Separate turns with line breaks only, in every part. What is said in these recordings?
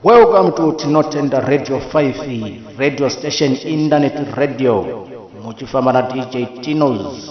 Welcome to Tinotenda Radio 5 radio station internet radio muchifamba na DJ Tinos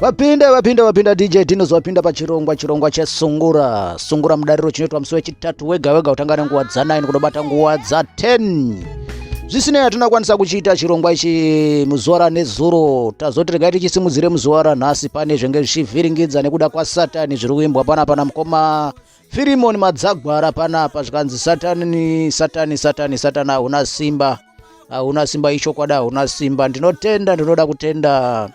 vapinda vapinda vapinda dj dinos vapinda pachirongwa chirongwa chesungura sungura mudariro chinoitwa musi wechitatu wega wega kutanga nenguva dza9 kunobata nguva dza10 zvisinei hatina kwanisa kuchiita chirongwa ichi muzuva ranezuro tazoti regai tichisimudzire muzuva ranhasi pane zvenge zvichivhiringidza nekuda kwasatani zviri kuimbwa pana pana mukoma Firimoni Madzagwara panapa zvikanzi satani satani satani satani hauna simba hauna simba ichokwadi hauna simba ndinotenda ndinoda kutenda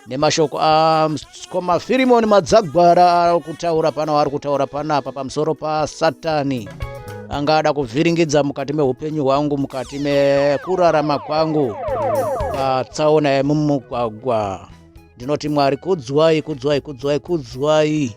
nemashoko askoma ah, Firimoni Madzagwara ari kutaura pano ari kutaura panapa pamusoro pasatani anga ada kuvhiringidza mukati meupenyu hwangu mukati mekurarama kwangu patsaona yemumugwagwa ndinoti mwari kudzwai kudzwai kudzwai kudzwai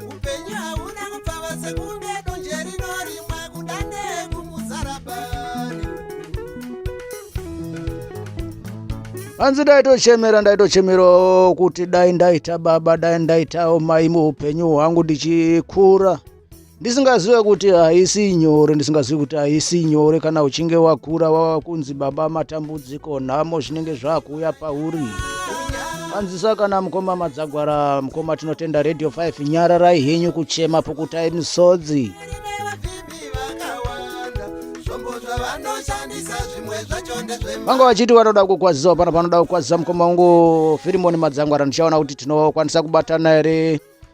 upenyu hauna kupfava sekunge donje rinorimwa kudande kumuzarabani hanzi ndaitochemera ndaitochemerawo kuti dai ndaita baba dai ndaitawo mai muupenyu hwangu ndichikura ndisingazive kuti haisi nyore ndisingazivi kuti haisi nyore kana uchinge wakura wava kunzi baba matambudziko nhamo zvinenge zvakuuya pauri Anzisa kana mukoma madzagwara mukoma tinotenda radio 5 nyararai henyu kuchema pukutai misodzi vanga vachiti vanoda kukwazisawo pano panoda kukwazisa mukoma wangu firimoni madzangwara ndichaona kuti tinokwanisa kubatana here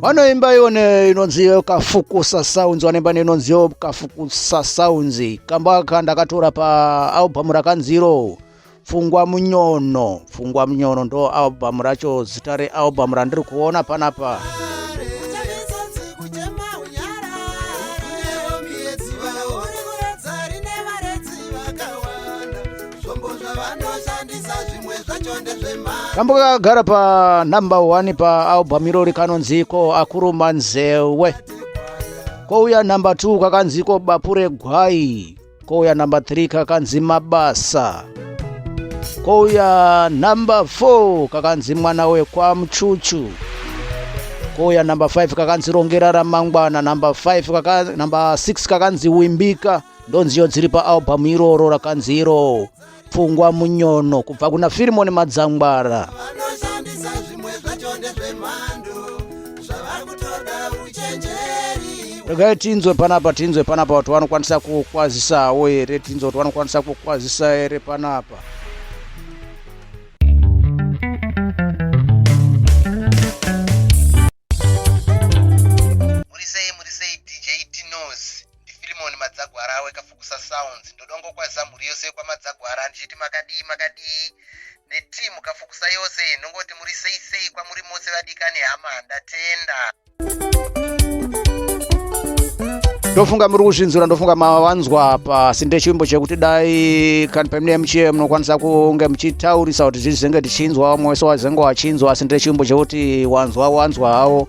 vanoimba yone inonzi kafukusa sounds vanoimba neinonziyo kafukusa sounds kamba ka ndakatora paalbhamu rakanziro pfungwa munyono pfungwa munyono ndo albhamu racho zita realbhamu randiri kuona panapa kambo kakagara panumber one paalbum irori kanonziko akuruma nzewe kouya number two kakanziko bapu regwai kouya number three kakanzi mabasa kouya number four kakanzi mwana wekwamuchuchu kouya number five kakanzi rongera ramangwana number five kaka, number six kakanzi wimbika ndonziyo dziri paalbhamu iroro rakanzi iro pfungwa munyono kubva kuna firimoni madzangwara regai tinzwe panapa tinzwe panapa kuti vanokwanisa kukwazisawo here tinzwe kuti vanokwanisa kukwazisa here panapa ndifilimoni madzagwara awe kafukusa sounds ndodongo kwazisa mhuri yose yekwamadzagwara ndichiti makadii makadii neteam kafukusa yose ndongoti muri sei sei kwamuri mose vadikani hama ndatenda ndofunga muri kuzvinzura ndofunga mavanzwa apa sinde chivimbo chekuti dai kani pamine mchiye munokwanisa kunge muchitaurisa kuti zvizenge tichinzwa umwe wese wazenge wachinzwa sinde chivimbo chekuti wanzwa wanzwa hawo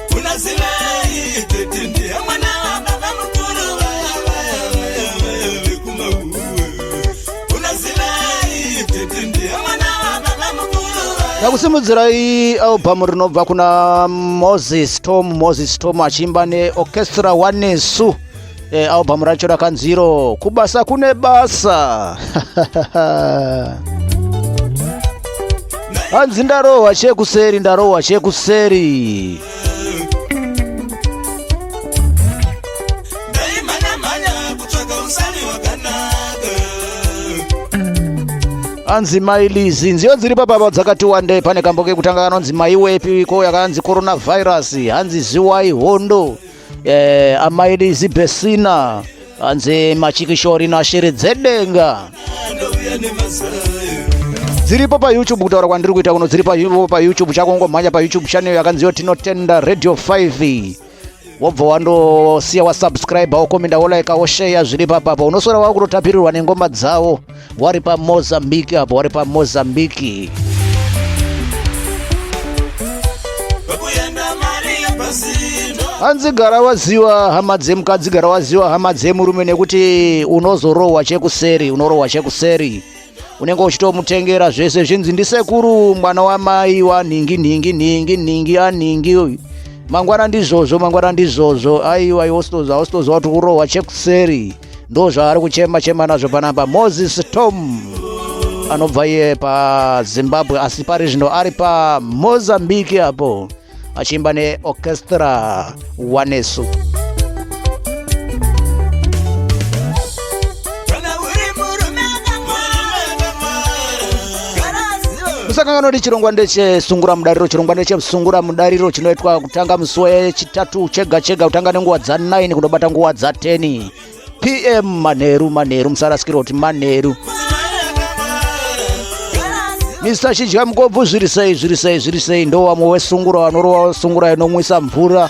ndakusimudzirai albhamu rinobva kuna moses tom moses tom achiimba neorchestra wanesu e, albhamu racho rakanziro kubasa kune basa hanzi ndarohwa chekuseri ndarohwa chekuseri anzi mai lizi nziyo dziri papapa dzakati wande pane kambo kekutanga kanonzi mai wepi ko yakanzi coronavirus hanzi ziwai hondo eh, amai lizi besina hanzi machikishori nashiri dzedenga dziripo payoutube kutaura kwandiri kuita kuno dziri payoutube chako ngomhanya payoutube channel yakanziwa tinotenda radio 5 wobva wandosiya wasubscribe wokomenda wolaika wosheya zviri papapa unosora wakutotapirirwa nengoma dzawo wari pamozambique apo wari pamozambique hanzi gara waziwa hama dzemukadzi gara waziwa hama dzemurume nekuti unozorohwa chekuseri unorohwa chekuseri unenge uchitomutengera zvese zvinzi ndisekuru mwana wamai wanhingi nhingi nhingi nhingi anhingi uyu mangwana ndizvozvo mangwana ndizvozvo aiwa iwositoza wositoza kuti urohwa chekuseri ndozvaari kuchema chema nazvo panapa moses tom anobva iye pazimbabwe asi pari zvino ari pamozambique apo achiimba neorchestra wanesu musangano kuti chirongwa ndechesungura mudariro chirongwa ndechesungura mudariro chinoitwa kutanga musi wechitatu chega chega kutanga nenguva dza9 kunobata nguva dza10 pm manheru manheru musarasikirwa kuti manheru mr chidya mukobvu zviri sei zviri sei zviri sei ndo wamwe wesungura wanorova wesungura inomwisa mvura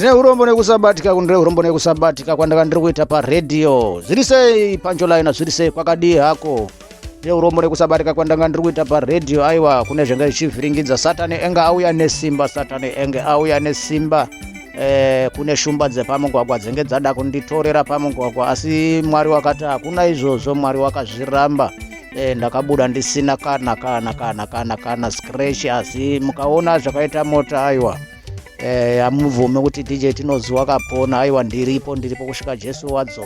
ndine urombo nekusabatika kundire urombo nekusabatika kwandanga ndiri kuita paredhiyo zviri sei panjolaina zviri sei kwakadii hako ndine urombo nekusabatika kwandanga ndiri kuita paredhiyo aiwa kune zvenge zvichivhiringidza satani enge auya nesimba satani enge auya nesimba eh, kune shumba dzepamugwagwa dzenge dzada kunditorera pamugwagwa asi mwari wakati hakuna izvozvo mwari wakazviramba eh, ndakabuda ndisina kana kana kana kana kana scratch asi mukaona zvakaita mota aiwa eh, hamubvume kuti dj tinoziwa kapona aiwa ndiripo ndiripo kusvika jesu wadzoka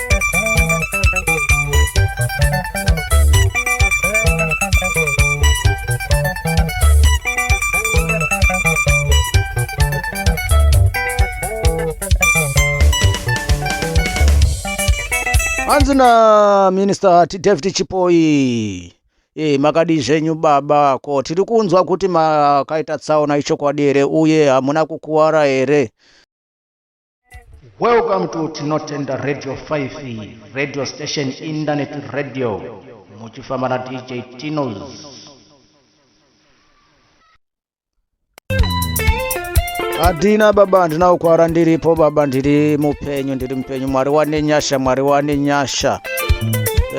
hanzi na minister david chipoi e, makadii zvenyu baba ko tiri kunzwa kuti makaita tsaona ichokwadi here uye hamuna kukuwara here Welcome to Tinotenda Radio 5, radio station internet radio. Muchifamba na DJ Tinos. Adina baba ndinakukwara ndiripo baba ndiri mupenyu ndiri mupenyu mwari wane nyasha mwari wane nyasha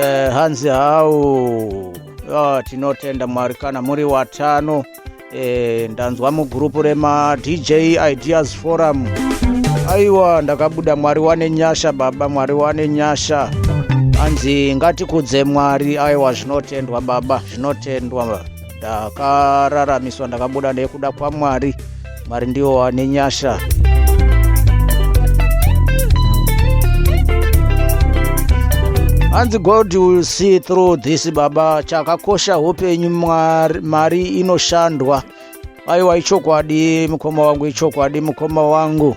eh, hanzi hau oh, tinotenda mwari kana muri watano e, ndanzwa mugurupu remadj ideas forum aiwa ndakabuda mwari wane nyasha baba mwari wane nyasha hanzi ngatikudze mwari aiwa zvinotendwa baba zvinotendwa ndakararamiswa ndakabuda nekuda kwamwari mwari ndiwo wane nyasha hanzi god will see through this baba chakakosha hupenyu mari inoshandwa aiwa ichokwadi mukoma wangu ichokwadi mukoma wangu, ichokwadi, mukoma wangu.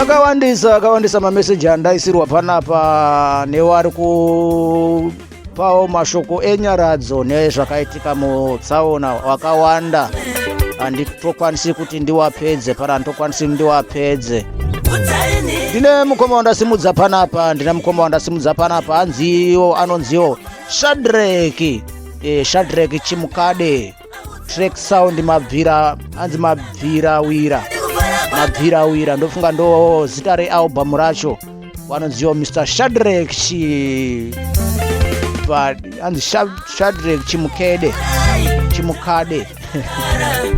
akawandisa akawandisa mameseji andaisirwa panapa newari kupawo mashoko enyaradzo nezvakaitika mutsaona wakawanda handitokwanisi kuti ndiwapedze pana handitokwanisi ndiwapedze ndine mukoma wandasimudza panapa ndine mukoma wandasimudza panapa hanziwo anonziwo shadreki e, eh, shadreki chimukade track sound mabvira anzi mabvira wira mabvira wira ndofunga ndo zita realbum racho vanonziwa mr shadrek chi anzi shadrek chimukede chimukade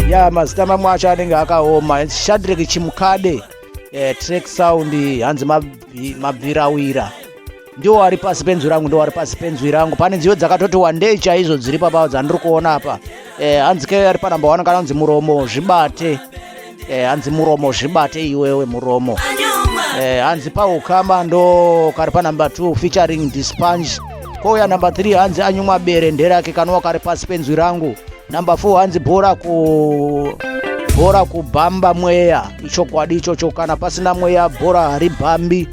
ya mazita mamwe acho anenge akaoma shadrek chimukade eh, track sound hanzi mabvirawira ndiwo ari pasi penzwi rangu ndiwo ari pasi penzwi rangu pane nziyo dzakatoti wandei chaizvo dziri papa dzandiri kuona apa eh, hanzi ke ari panamba wani kana unzi muromo zvibate eh, hanzi muromo zvibate iwewe muromo eh, hanzi paukama ndo kari panumber two featuring dispange kouya number three hanzi anyumwa bere nderake kanowa kari pasi penzwi rangu number four hanzi bhora ku bhora kubhamba mweya ichokwadi ichocho kana pasina mweya bhora haribhambi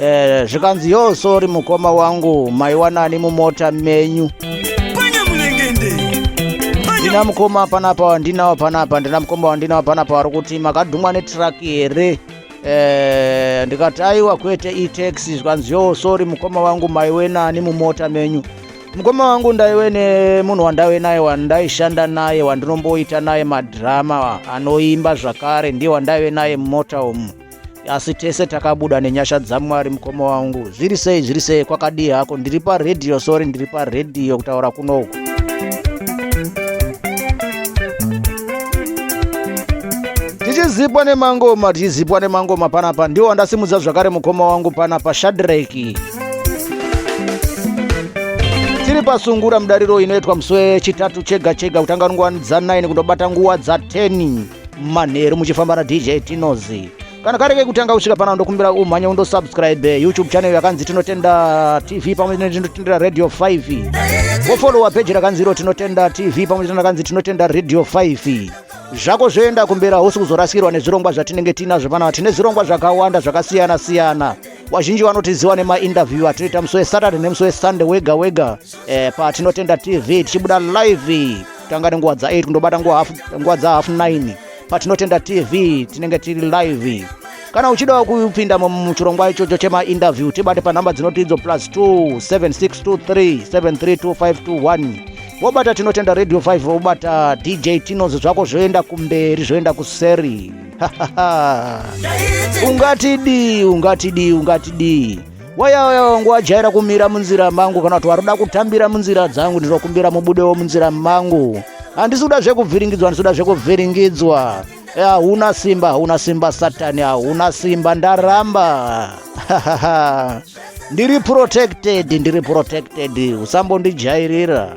eh, zvikanzi yo sori mukoma wangu maiwanani mumota menyu ndina mukoma panapa wandinawo panapa ndina mukoma wandinawo panapa wari kuti makadhumwa netraki here eh, ndikati aiwa kwete itaxi zvikanzi yo sori mukoma wangu maiwe nani mumota menyu mukoma wangu ndaiwe nemunhu wandaive naye wandaishanda naye wandinomboita naye madhirama anoimba zvakare ndiye wandaive naye mumota umu asi tese takabuda nenyasha dzamwari mukoma wangu zviri sei zviri sei kwakadii hako ndiri paredhiyo sori ndiri paredhiyo kutaura kunoku tichizipwa nemangoma tichizipwa nemangoma panapa ndiwo andasimudza zvakare mukoma wangu panapa shadreki tiri pasungura mudariro inoitwa musi wechitatu chega chega kutanga nguva dza9 kundobata nguva dza10 manheru muchifamba na dj tinozi kana kari kekutanga kusvika pano ndokumbira umhanye undosubscribe youtube channel yakanzi tinotenda tv pamwe tinotenda radio 5 wofolowa peji rakanzi iro tinotenda tv pamwe tinakanzi tinotenda radio 5 zvako zvoenda kumbera hausi kuzorasikirwa nezvirongwa zvatinenge tiinazvo panapa tine zvirongwa zvakawanda zvakasiyana siyana wazhinji vanotiziva nemainterview atinoita musi wesaturday nemusi wesunday wega wega eh, patinotenda tv tichibuda live tanga nenguva dza 8 kundobata nguva dza half 9 patinotenda tv tinenge tiri live kana uchidawo kupinda muchirongwa ichocho chemainterview tibate panhamba dzinoti idzo plus 2 7623 732521 wobata tinotenda radio 5 wobata dj tinozo zvako zvoenda kumberi zvoenda kuseri ungatidii ungatidii ungatidii wayauya wangu wajaira kumira munzira mangu kana kuti waruda kutambira munzira dzangu ndinokumbira mubudewo munzira mangu handisi kuda zvekuvhiringidzwa handisi kuda zvekuvhiringidzwa hauna eh, simba hauna simba satani hauna simba ndaramba ndiri protected ndiri protected usambondijairira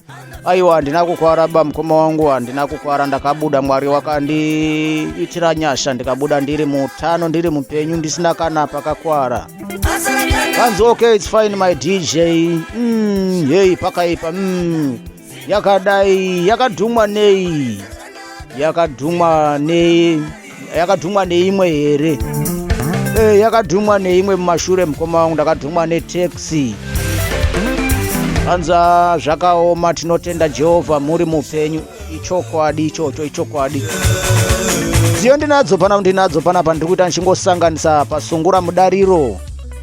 Aiwa, handina kukwara ba mukoma wangu, handina kukwara, ndakabuda. Mwari wakandiitira nyasha, ndikabuda ndiri mutano, ndiri mupenyu, ndisina kana pakakwara. Kanzi okay, it's fine my DJ. Mm, hey, pakaipa. Mm, yakadai, yakadhumwa nei? Yakadhumwa nei? yakadhumwa neimwe here e, yakadhumwa neimwe mumashure mukoma wangu ndakadhumwa netaxi anza zvakaoma tinotenda jehovha muri mupenyu ichokwadi ichocho ichokwadi dziyo ndinadzo pana ndinadzo panapa ndiri kuita ndichingosanganisa pasungura mudariro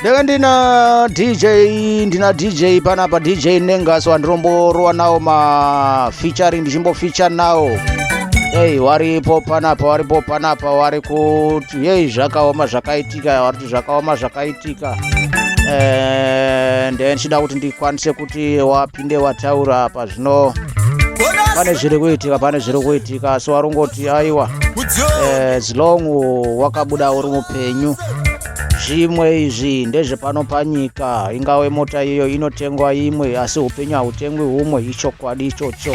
ndeve ndina dj ndina dj panapa dj nengaso wandiromborowa nawo mafeaturing ndichimbofeature nawo ei waripo panapa waripo panapa wari kuti yei zvakaoma zvakaitika zvakaoma zvakaitika and eh, ndichida kuti ndikwanise kuti wapinde wataura apa zvino pane zviri kuitika pane zviri kuitika asi warongoti aiwa eh, as long wakabuda uri mupenyu zvimwe izvi ndezvepano panyika ingave mota iyo inotengwa imwe asi upenyu hautengwi humwe ichokwadi ichocho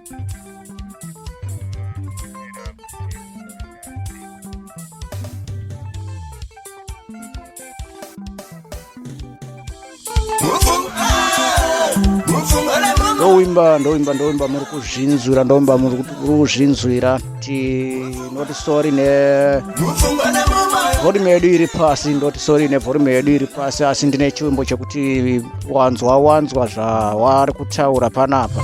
ndoimba ndoimba ndoimba muri kuzvinzwira ndoimba muri kuzvinzwira tinoti sorry nevolume yedu iri pasi ndoti sorry nevolume yedu iri pasi asi ndine chivimbo chekuti wanzwa wanzwa zvawari kutaura panapa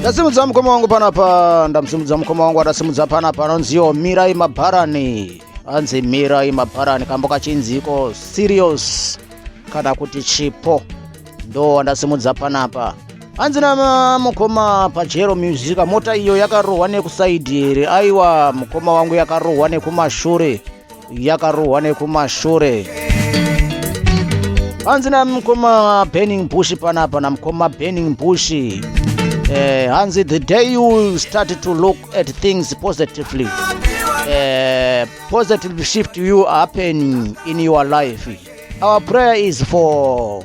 ndasimudza mukoma wangu panapa ndamusimudza mukoma wangu adasimudza panapa anonziwo mirai mabharani anzi mirai mabharani kambo kachinziko serious kana kuti chipo ndo wandasimudza panapa hanzi na mukoma pajero musica mota iyo yakarohwa nekusaidi here aiwa mukoma wangu yakarohwa nekumashure yakarohwa nekumashure hanzi namukoma burning bush panapa namukoma burning bush eh, hanzi the day you start to look at things positively eh, positive shift you happen in your life our prayer is for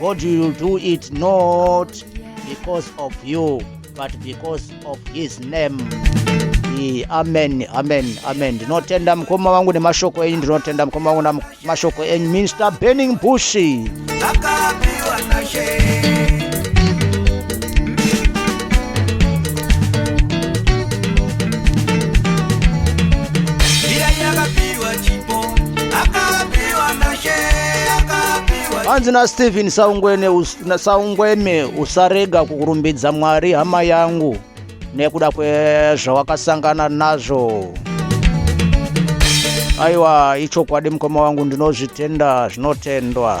God will do it not because of you but because of his name. Ee, amen amen amen ndinotenda mukoma wangu nemashoko enyu ndinotenda mukoma wangu namashoko enyu minister burning bushi Akapiwa na shame. hanzi nastephen saungweme usarega kurumbidza mwari hama yangu nekuda kwezvawakasangana nazvo aiwa ichokwadi mukoma wangu ndinozvitenda zvinotendwa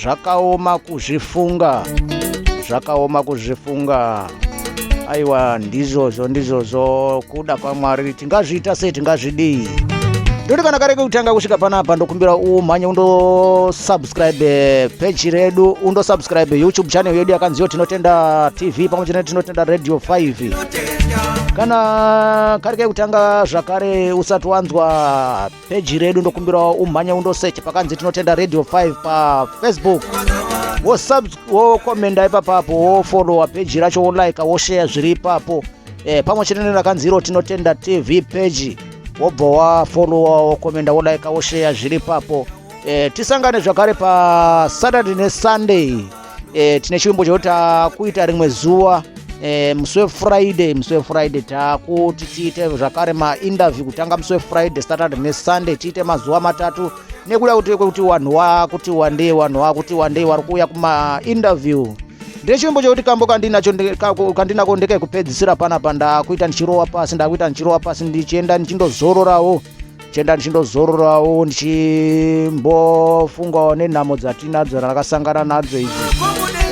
zvakaoma kuzvifunga zvakaoma kuzvifunga aiwa ndizvozvo ndizvozvo kuda kwamwari tingazviita sei tingazvidii ndoti kana kare kekutanga kusvika panapa ndokumbira umhanye undosubscribe eh, peji redu undosubscribe eh, youtube channel yedu yakanziyo tinotenda tv pamwe chete tinotenda radio 5 kana kare kekutanga zvakare usati wanzwa peji redu ndokumbirawo umhanya undosecha pakanzi tinotenda radio 5 pafacebook wokomenda ipapapo wofolowa peji racho wolaika wosheya zviri ipapo e, pamwe chete nerakanzi iro tinotenda tv peji wobva wafolowa wokomenda wolaika wosheya zviri ipapo e, tisangane zvakare pasaturday nesunday e, tine chivimbo chekuti takuita rimwe zuva e, musi wefriday musi wefriday takuti tiite zvakare mainterview kutanga musi wefriday saturday nesunday tiite mazuva matatu nekuda kuti kwekuti vanhu wakuti wandei vanhu wakuti wandei vari kuuya kumainterview ndechivimbo chekuti kambo kandinacho kandinako ndekekupedzisira pana pa ndakuita ndichirowa pasi ndakuita ndichirowa pasi ndichienda ndichindozororawo chenda ndichindozororawo ndichimbofungawo nenhamo dzatinadzo rakasangana nadzo idzi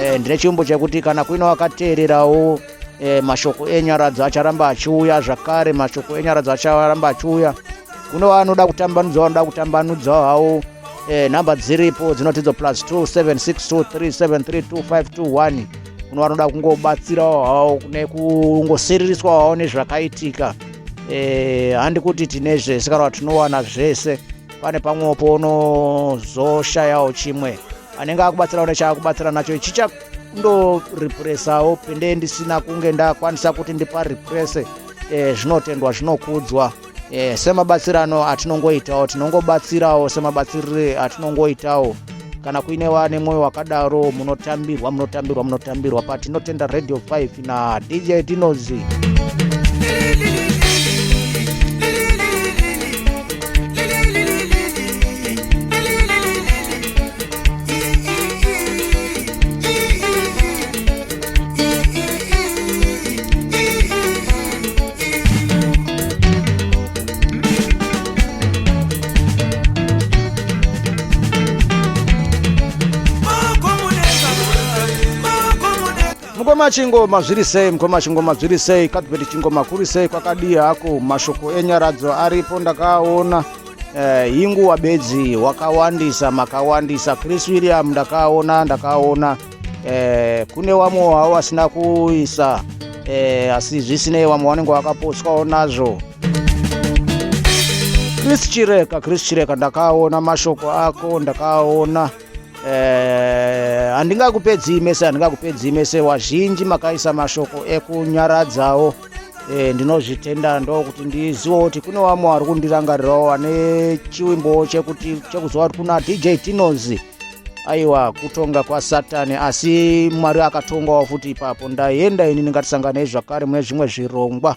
eh, ndine chiumbo chekuti kana kuina wakateererawo e, mashoko enyaradzo acharamba achiuya zvakare mashoko enyaradzo acharamba achiuya kune vanoda kutambanudza vanoda kutambanudza hawo e, nhamba dziripo dzinotidzo plus 2762373251 kune vanoda kungobatsirawo hawo kune kungosiririswa hawo nezvakaitika eh, handi kuti tine zvese kana tinowana zvese pane pamwewo pounozoshayawo chimwe anenge akubatsirawo nechaakubatsira nacho ichi chakundorepuresawo pende ndisina kunge ndakwanisa kuti ndipa repurese eh, zvinotendwa zvinokudzwa eh, semabatsirano atinongoitawo tinongobatsirawo semabatsirire atinongoitawo kana kuine vane mwoyo wakadaro munotambirwa munotambirwa munotambirwa patinotenda radio 5 na dj dinozi mukoma chingoma zviri sei mukoma chingoma zviri sei kadhibeti chingoma kuri sei kwakadii hako mashoko enyaradzo aripo ndakaona eh, hinguwa bedzi wakawandisa makawandisa chris william ndakaona ndakaona eh, kune wamwe wavo vasina kuisa eh, asi zvisinei wamwe wanenge wakaposwawo nazvo chris chireka chris chireka ndakaona mashoko ako ndakaona eh, handingakupedzii eh, mese handingakupedzii mese wazhinji makaisa mashoko ekunyaradzawo eh, ndinozvitenda ndokuti ndizivewo kuti kune wamwe wari kundirangarirawo ane chiwimbowo chekuti chekuziva kuti kuna dj tinozi aiwa kutonga kwasatani asi mwari akatongawo futi ipapo ndaenda ini ndingatisanganei zvakare mune zvimwe zvirongwa